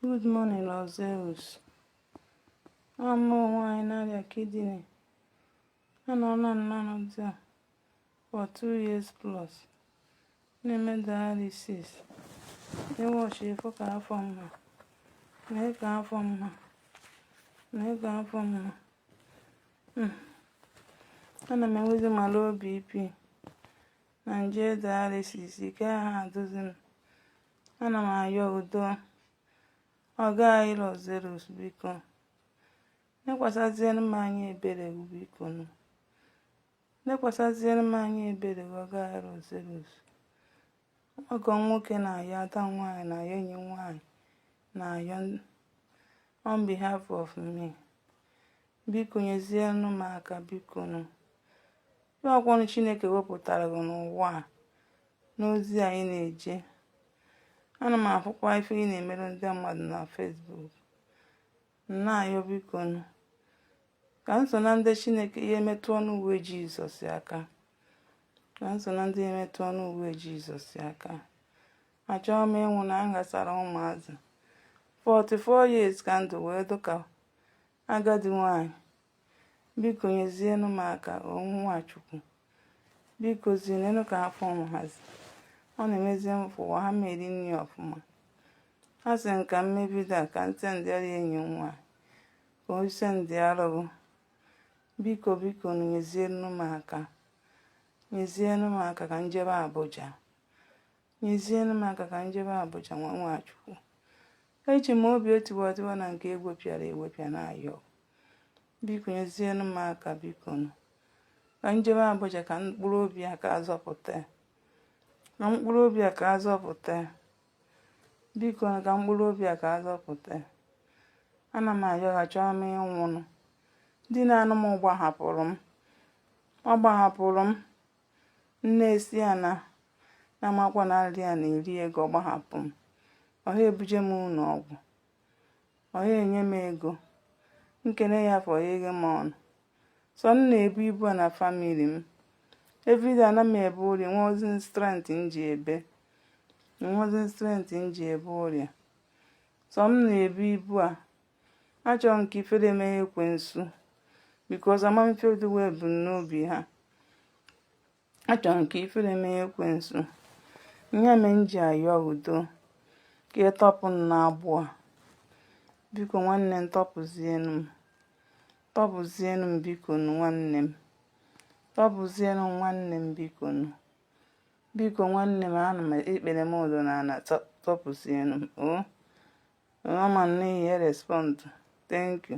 Good morning, Lord Zeus. Abụ m nwanyị na-arịa kidney. Anọna m n'ọnọdụ a for two years plus. Na-eme dialysis. Nwa chi ị fụ ka afọ m ha. Nee ka afọ m ha. Nee ka afọ m ha. Ana m enwezi ma low BP. na m je dialysis ike ha adụzi m ana m ayọ udo ọga anyị Lord Zeus biko nekwasazịere m anya ebere gị biko nụ nekwasazịere m anya ebere gị ọga anyị Lord Zeus ọgọ nwoke na-ayọ ada nwaanyị na-ayọ enyi nwaanyị na-ayọ on behalf of me Biko nyezienụ m aka biko nụ. Ihe ọkwọnụ Chineke wepụtara gị n'ụwa a n'ozi a ị na-eje. Ana m afụkwa ife ị na-emerụ ndị mmadụ na Facebook. Na-ayọ biko nụ. Ka m so na ndị Chineke ya-emetụ ọnụ uwe Jizọs aka. Ka m so na ndị ya-emetụ ọnụ uwe Jizọs aka. Achọghị m ịnwụ na m ghasara ụmụazị. 44 years ka m dụ wee dụ ka Agadi nwanyị, biko nyezienụ m aka o nwa Chukwu. Bikozi neenụ ka afọ m hazi. Ọ na-emezi m fụwa ha m eri nri ọfụma. A sị m ka mmebido a ka ntị ndị ọrịa enyi nwa ka o ise ndị arụrụ. Biko biko nụ nyezienụ m aka. Nyezienụ m aka ka m jebe Abuja. Nyezienụ m aka ka m jebe Abuja nwa Chukwu. Eji m obi etiwara etiwa na nke egwepịara egwepịa na-ayọ. Biko nyezienụ m aka biko nụ. Ka m jebe Abuja ka mkpụrụ obi a ka azọpụta. Ka mkpụrụ obi a ka azọpụta. Biko nụ ka mkpụrụ obi a ka azọpụta. Ana m ayọ achọọ m ịnwụnụ. Di na-anụ m gbahapụrụ m. Ọ gbahapụrụ m. Nne ya sị ya na na amakwa na ọrịa a na-eri ego ọ gbahapụ m ọ ha ebuje m ụlọ ọgwụ ọ ha enye m ego nkene ya afọ ya eghe m ọnụ sọ m na-ebu ibu a na famili m everyday ana m ebe ụrịa enwezi m strength m ji ebe enwezi m strength m ji ebe ụrịa sọ m na-ebu ibu a achọrọ m ka ifere mee ekwensu because ama m ife oduwe ebumnobi ha achọrọ m ka ifere mee ekwensu ihe me m ji ayọ udo ka ị tọpụ m n'agbụ a biko nwanne m tọpụzienu m tọpụzienu m biko nwanne m tọpụzienu nwanne m biko nụ Biko nwanne m ana m ikpere m dọ n'ana tọpụsienu m o. Mama m n'ihi response. Thank you.